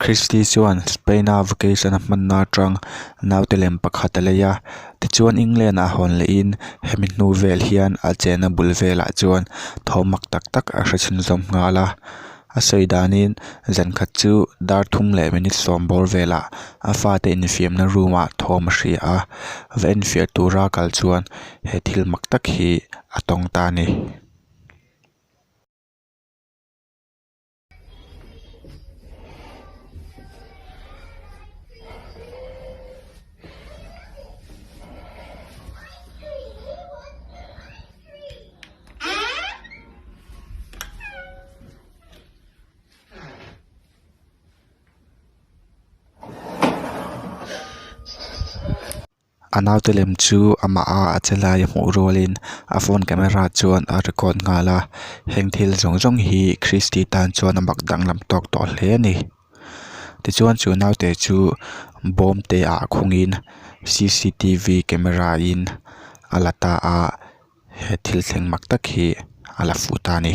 Christy chuan Spain a vacation a hmanna atang naute lem pakhat a lei a, tichuan England ah hawn lehin hemi hnu vel hian a chenna bul velah chuan thawhmak tak tak a hrechhinzawm nghal a. A sawi danin zan khat chu dar thum leh minute sawm bawr velah a fate infiamna room-ah thawm a hria a. Va enfiah tura kal chuan he thil mak tak hi a tawng ta a ni. A naute lem chu amah a a chelai a hmuh rualin a phone camera chuan a record nghal a heng thil zawng zawng hi kristi tan chuan a mak danglam tawk tawh hle a ni tichuan chu naute chu bawm te ah khungin camera in a la ta a. he thil thleng mak tak hi a la fuh ta a ni.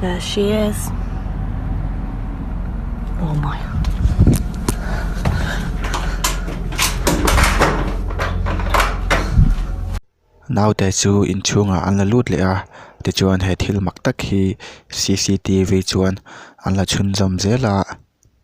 Gracias. Oh my. Naute chu inchhungah an la lut leh a tichuan he thil mak tak hi cctv chuan an la chhunzawm zel a.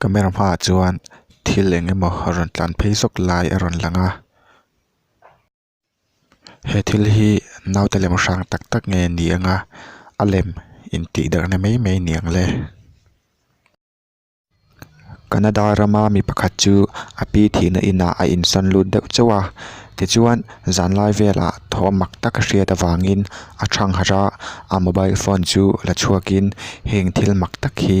Camera hmaah chuan thil eng emaw a rawn tlan phei zawk lai a rawn lang a he thil hi naute lem hrang tak tak nge ni ang a a lem in tih darh na mai mai ni ang le Canada ram a mi pakhat chu a pi thih na in ah a in sawn lut deuh cheu a tichuan zan lai vel ah thaw a mak tak a hriat avang in a thang harh a a mobile phone chu la chhuak in heng thil mak tak hi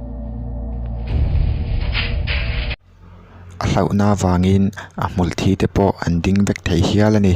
a hlauhna vangin a hmawlh thi te pawh an ding vek thei hial a ni.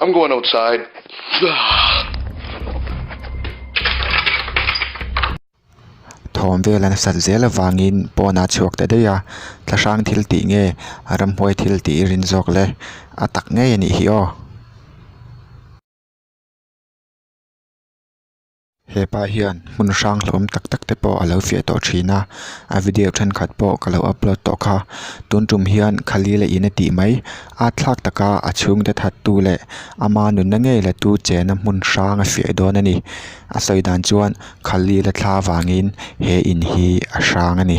I'm going outside. Thawm vel an sat zel avangin pawn a chhuak ta daih a, Tla hrang thil tih nge a ramhuai thil tih i rin zawk le? A tak ngei a nih hi aw. Hepa hian hmun hrang hlawm tak tak te pawh a lo fiah tawh thin a, a video thenkhat pawh ka lo upload tawh kha. Tun tum hian khali leh in a tih mai a thlak taka a chhung de that tu leh ama nunna ngei la tu chen a hmun hrang a fiah dawn a ni. A sawi dan chuan khali la thla vangin he in hi a hrang a ni.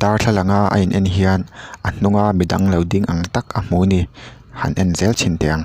Darthlalang a a in en hian a hnunga mi dang lo ding ang tak a hmu ni han en zel chhin teh ang.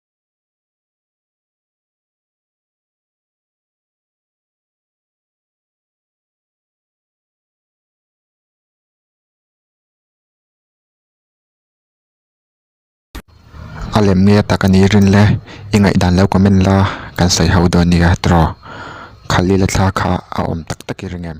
A lem nge tak a nih rin le i ngaihdan lo ka men la kan sawi ho dawn nia tawrh khalhila thla kha a awm tak tak i ring em.